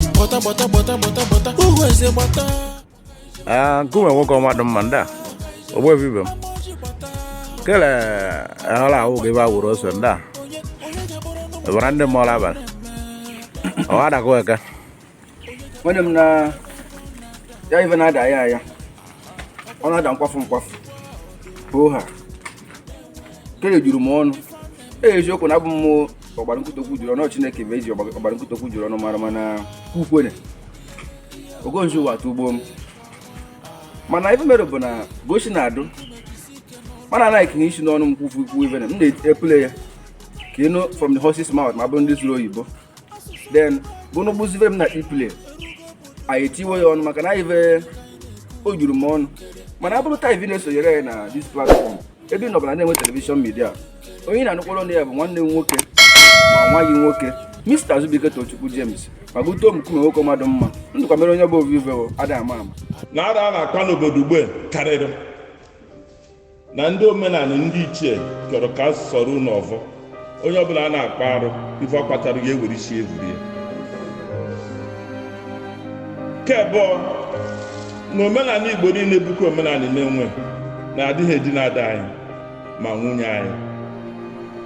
gbata gbata gbata gbata gbata uhu eze gbata Ah, nkume nwoke mmadụ mma ndị a ogbe vibe m kele ahụla ahụ gị ebe a wụrụ ose ndị a ebara ndị mmụọ la abalị ọwa adakụ eke nwunye m na ya ibe na-ada ya ya ọ na-ada nkwafu nkwafu ọha ekele juru m ọnụ ee eziokwu na abụ m ọgbara nkụtụ okwu juru ọnụ chineke bụ ezi ọgbara nkụtụ okwu juru ọnụ mara mana ukwene ogonzi ụwa atụ ugbo m mana ife mere bụ na gosi na-adụ mana anaghị na isi n'ọnụ m kwufu ikwu ife m na-epule ya ka ịnụ from the horse's mouth ma bụrụ ndị sụrụ oyibo then bụnụ gbụzibe m na ipule anyị etiwe ya ọnụ maka na ife o juru m ọnụ mana abụrụ taa ife na-esonyere ya na this platform ebe ị nọbara Nenwe television media onye ị na-anụkwara ọnụ ya bụ nwanne m nwoke ma nwa gị nwoke Mr. Azubike Tochukwu James ma gụtoo m nkume nwoke mmadụ mma ndụkwa mere onye bụ ovive ada ama ama na arụ a na-akpa n'obodo ugbe karịrị na ndị omenala ndị ichie chọrọ ka a sụọrọ unu ọvọ onye ọbụla a na-akpa arụ ife ọ kpatara ya ewere isi evuru ya ke bụ na omenala igbo niile bụkwa omenala Nenwe na adịghị edina ada anyị ma nwunye anyị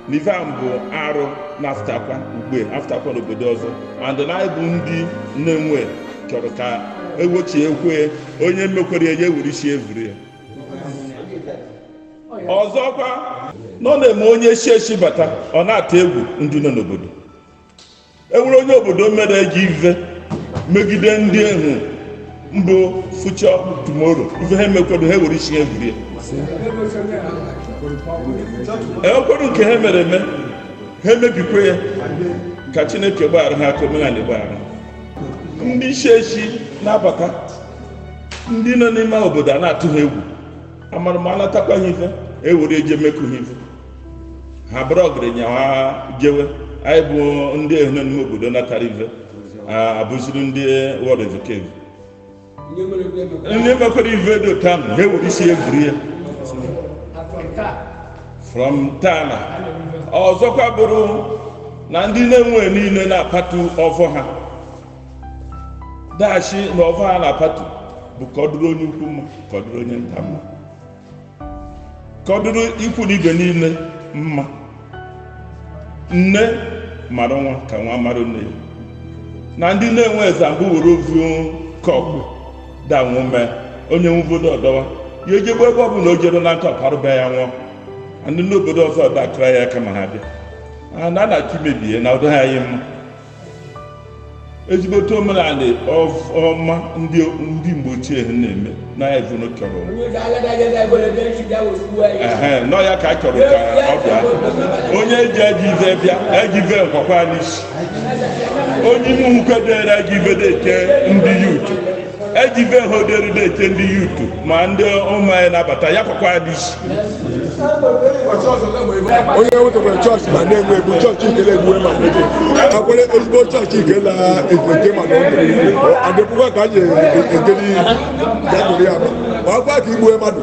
na ife a bụ arụ na-afụtakwa ugbe afụtakwa n'obodo ọzọ and na anyị bụ ndị Nenwe chọrọ ka ewochie ekwe onye mekwere ya ewere isi evuri ya ọzọkwa nọ na-eme onye si esi bata ọ na-atụ egwu ndị nọ n'obodo enwere onye obodo mere ajọ ife megide ndị ehu mbụ future tomorrow ife ha emekwado ha ewere isi ha evuru ya enwekwado nke ha mere eme ha emebikwa ya ka chineke gbaghara ha ka omenala gbaghara ndị si esi na-abata ndị nọ n'ime obodo a na-atụ ha egwu amara ma a natakwa ha ife ewere eje mekụ ha ife ha bụrụ ọgaranya ha jewe anyị bụ ndị ehu nọ n'ime obodo natara ife a- abụziri ndị wọd evokevu ndị mekwara ife dị otu ahụ ha ewere isi evuru ya from tana ọzọkwa bụrụ na ndị Nenwe niile na-apatu ọfọ ha dashi na ọfọ ha na-apatu bụ ka ọ dịrị onye ukwu mma ka ọ dịrị onye nta mma ka ọ dịrị ikwu na ibe niile mma nne mara nwa ka nwa mara nne ya na ndị Nenwe eze mbụ were ovu kọpụ danwụ mee onye nwubodo ọdọwa ya ejegbe ebe ọ bụla o jere na nkọpụ arụba ya nwụọ ndị n'obodo ọzọ dakara ya aka ma ha bịa a na-achọ imebie na ụdọ ha anyị mma ezigbote omenala ọma ndị mgbe ochie ha na-eme na evunu chọrọ nọ ya ka a chọrọ ka ọ bịa onye eji ejive bịa ejive nkwakwa n'isi onye ime nkwedere ejive na-eche ndị ya uche eji be ha oderi na-eche ndị yutu ma ndị ụmụ anyị na-abata ya kwakwa n'isi onye wetekwara chọọchị ma na-enwe egwu chọọchị ikele egbuwe ma nwoke akwere ezigbo chọọchị ikela ekwente ma na ọdụ adịpụkwa ka a na-ekele ihe ya bụrụ ya ma ọ gwa ka igbuwe mmadụ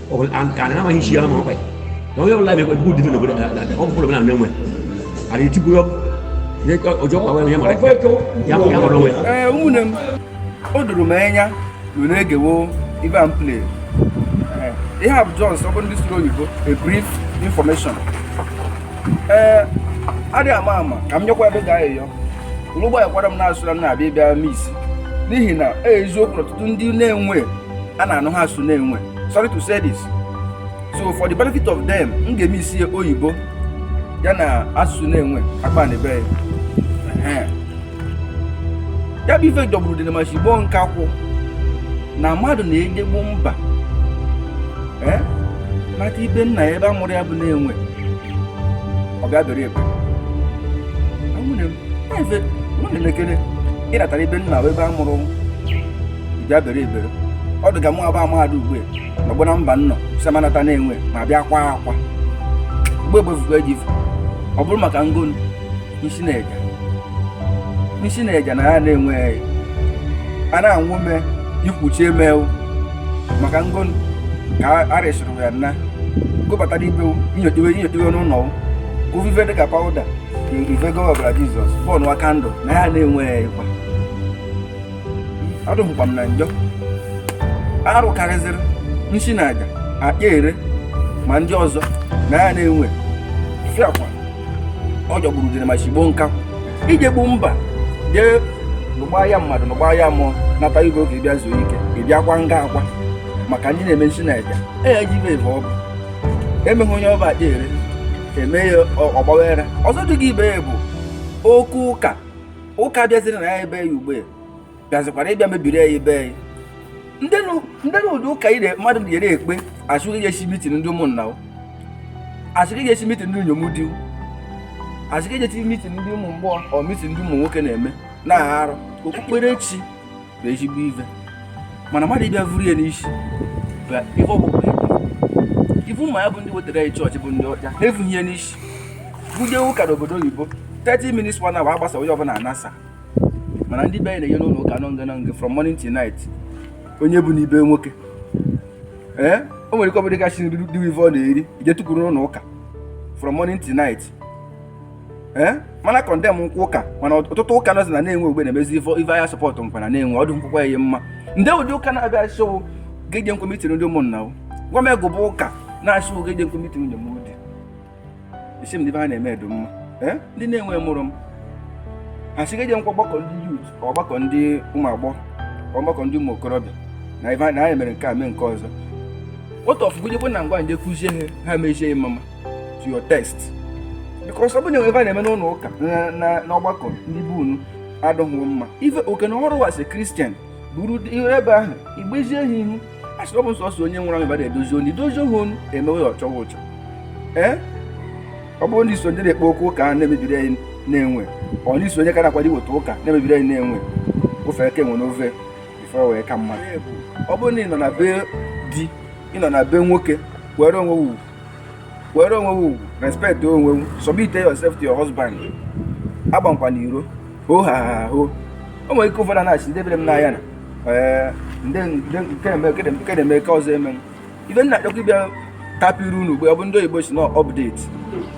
waxul an kaana naa ma hin siya ma koy donc yow laa be ko bu difi no ko da da ko ko na ne mo ari ti bu yo ne ko ojo ko wa ne mo rek ya mo ya mo lo eh umune m o duru m anya no na egewo ibe am play eh they have just open this road you go a brief information eh adị ama ama ka m nyekwa ebe ga eyo ụlụgbọ ekwara m na-asụra m na-abịa ịbịa m isi n'ihi na eziokwu ọtụtụ ndị na-enwe a na-anụha asụ Nenwe sorry to say this so for the benefit of them m ga-emixie oyibo ya na asụsụ Nenwe akpa na ebe ya ya bụ ife jọgburu dị na machigbo nke akwụ na mmadụ na-ejegbu mba ee nata ibe nna ya ebe a mụrụ ya bụ Nenwe ọ bịa bere ebe ụmụnne m na-efe nwunye na-ekele ịnatara ibe nna ya ebe a mụrụ bịa bere ebere ọ dịga mgbe mmadụ ugbu a nọgbo na mba nnọ sị ma nata Nenwe ma bịa kwa akwa mgbe egbefugo eji ọ bụrụ maka ngo nsi na aja nsi na aja na ya Nenwe a na-anwụ mee ikwuchi emewu maka ngo ka a resịrị ya nna gụbatara ibe nyotewe n'ụlọ ovive dịka pawụda ivego ọbara jizọs bọọlụ wa kandụl na ya Nenwe ịkwa adụhụkwa m na njọ arụ karịzịrị nsi na aja akpa ere ma ndị ọzọ na ya Nenwe fiakwa ọ jọgburu dịrị ma chigbo nka ije gbu mba jee lụgba ya mmadụ lụgba ya mmụọ nata ibe gị bịa zuo ike ị bịakwa nga akwa maka ndị na-eme nsi na aja eya ji ibe ebe ọ bụ emeghị onye ọba akpa ere eme ya ọgbawere ọzọ dị gị ibe ya bụ okwu ụka ụka bịaziri na ya ebe ya ugbe bịazikwara ịbịa mebiri ya ebe ya ndị na ụdị ụka ire mmadụ na-ere ekpe a sị gị esi mitin ndị ụmụnna a sị gị esi mitin ndị inyom di a sị gị esi mitin ndị ụmụ mgbọ ọ mitin ndị ụmụ nwoke na-eme na-arụ okpukperechi bụ ezigbo ife mana mmadụ ịbịa vuru ya n'isi bụ ife ọbụla ibu ma ya bụ ndị wetara anyị chọọchị bụ ndị ọcha ha evughị ya n'isi gụ je ụka n'obodo oyibo 30 minutes one hour a gbasaa onye ọbụla anasa mana ndị be anyị na-eje n'ụlọ ụka nọnge nọnge from morning to night onye bu n'ibe nwoke ee o nwere ike ọbụdị gasị nri dị ive ọ na-eri i je tukwuru n'ụlọ ụka from morning to night ee mana kọndem nkwụ ụka mana ọtụtụ ụka nọzi na Nenwe ogbe na-emezi ife ife ahịa sọpọtụ nkwa na Nenwe ọdụ nkwụkwa ya mma ndị ụdị ụka na-abịa asị wụ gị ejenkwe mitin ndị ụmụnna o gwa m ego bụ ụka na-asị wụ gị ejenkwe mitin ndị mụ dị isi m ndị ife ha na-eme edo mma ee ndị Nenwe mụrụ m ha sị gị ejenkwa ọgbakọ ndị youth ọgbakọ ndị ụmụ agbọghọ ọgbakọ ndị ụmụ okorobịa na ife na ha mere nke a mee nke ọzọ otu ọ bụ gụ jekwe na ngwa nje kuzie ha ha mezie ya mama to your taste because ọ bụ na ive a na-eme n'ụlọ ụka n'ọgbakọ ndị be unu adịghị mma ife oke na ọrụ wụ as a Christian buru iru ebe ahụ igbezie ha ihu a sị ọ bụ nsọsọ onye nwụrụ anwụ ka a na-edozi onu idozi ha onu emewe ya ọchọwa ụchọ ee ọ bụrụ na i so ndị na-ekpe okwu ụka na-emebiri anyị Nenwe ọ na i so onye ka na-akwado iweta ụka na-emebiri anyị Nenwe ofe eke nwe n'ofe ife wee ka mma ọ bụrụ na ị nọ na be di ị nọ na be nwoke were onwe wu were onwe wu respect onwe wu submit yourself to your husband agbankwana iro ho ha ha ho o nwere ike ụfọdụ na-asị ndebere m n'anya na ee nke na-eme nke ọzọ eme ive m na-achọkwa ịbịa tapịrị unu ugbo ọ bụ ndị oyibo sị na update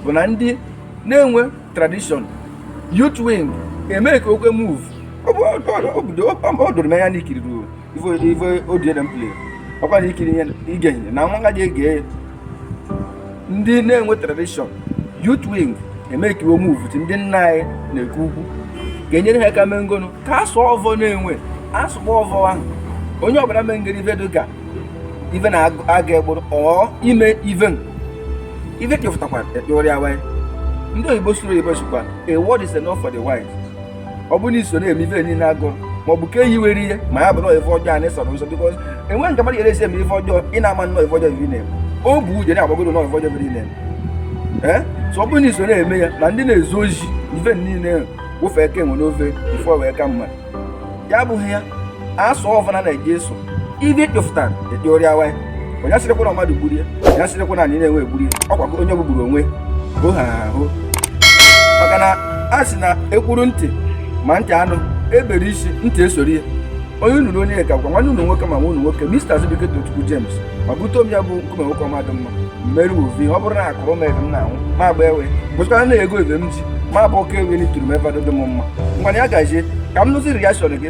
bụ na ndị Nenwe tradition youth wing eme ka okwe move ọ doro m anya na i kiriri ife audio m playiri ọkwa na ikiri ihe ige ihe na nwa ngaji ege ya ndị Nenwe tradition youth wing emekiwo move ndị nna anyị na-ekwu ukwu ga-enyere ha aka mee ngonu ka a sụ ọvọ Nenwe a sụkpọ ọvọ ahụ onye ọbụla mee ngere ife dịka ife na-aga egburu ọ ime ive ife kefụtakwara ekpewere ya wanye ndị oyibo sụrụ oyibo sịkwa a word is enough for the wise ọ bụrụ na i so na-eme ife niile a gụrụ ma ọ bụ ka eyi were ihe ma ya bụrụ ife ọjọọ anị sọrọ nsọ because enweghị nke mmadụ ga-esi eme ife ọjọọ ị na-ama na ọ ife ọjọọ ive ị na-eme obu uche na-agwa gụ na ọ ife ọjọọ ive ị na-eme ee so ọ bụrụ na i so na-eme ya na ndị na-ezu ozi ife niile wụfe eke nwe n'ofe ife wee ka mma ya abụghị ya a sụ ọvọ na eji eso ive kpefụtara dị ọrịa waị onye asịrịkwa na mmadụ gburie onye asịrịkwa na anị Nenwe egburi ọkwa onye gbugburu onwe bụ ha ahụ maka na a sị na e kwuru ntị ma ntị anụ e bere isi ntị esori ya onye unu na onye ka gwa nwanne unu nwoke ma nwa unu nwoke Mr. Azubike Tochukwu James ma bute omi ya bụ nkume nwoke ọma dị mma mmeri ovi ọ bụrụ na akụrụ m ebe m na-anwụ ma agba ewe bụchara na ego ebe m ji ma bụ oke ewe n'ituru m ebe dị m mma ngwanu ya gazie ka m nụzi reaction gị